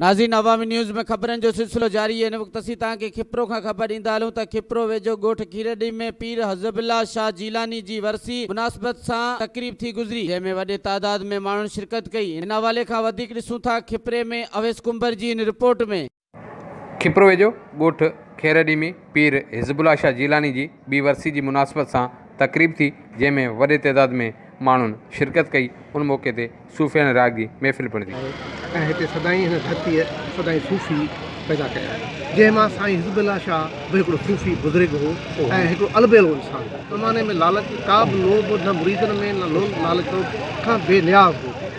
ناظرين عوامي نيوز ۾ خبرن جو سلسلو جاري هن وقت اسين توهان کي کپرو کان خبر ڏيندا هلون ته کپرو ويجهو ڳوٺ کيرڏي ۾ پير حزب الله شاهه جيلاني جي ورسي مناسبت سان تقريب ٿي گذري جنهن ۾ وڏي تعداد ۾ ماڻهن شرڪت ڪئي هن حوالي کان وڌيڪ ڏسون ٿا کپري ۾ اويس ڪنڀر جي هن رپورٽ ۾. کپرو ويجهو ڳوٺ خيرڏي ۾ پير حزب الله شاهه جيلاني جي ٻي ورسي جي مناسبت سان تقريب ٿي، جنهن ۾ وڏي تعداد ۾ ماڻهن شرڪت ڪئي، ان موقعي تي صوفي ۽ راڳ جي محفل پڻ ٿي. آهي ۽ هتي سدائين هن ڌرتيء سدائين صوفي پيدا ڪيا آهن، جنهن مان سائين حزب الله شاهه به هڪڙو صوفي بزرگ هو ۽ هڪڙو البيلو انسان هو. زماني ۾ لالچ ڪا به لوڀ نه مريدن ۾ نه لوڀ لالچ کان بي نياز هو.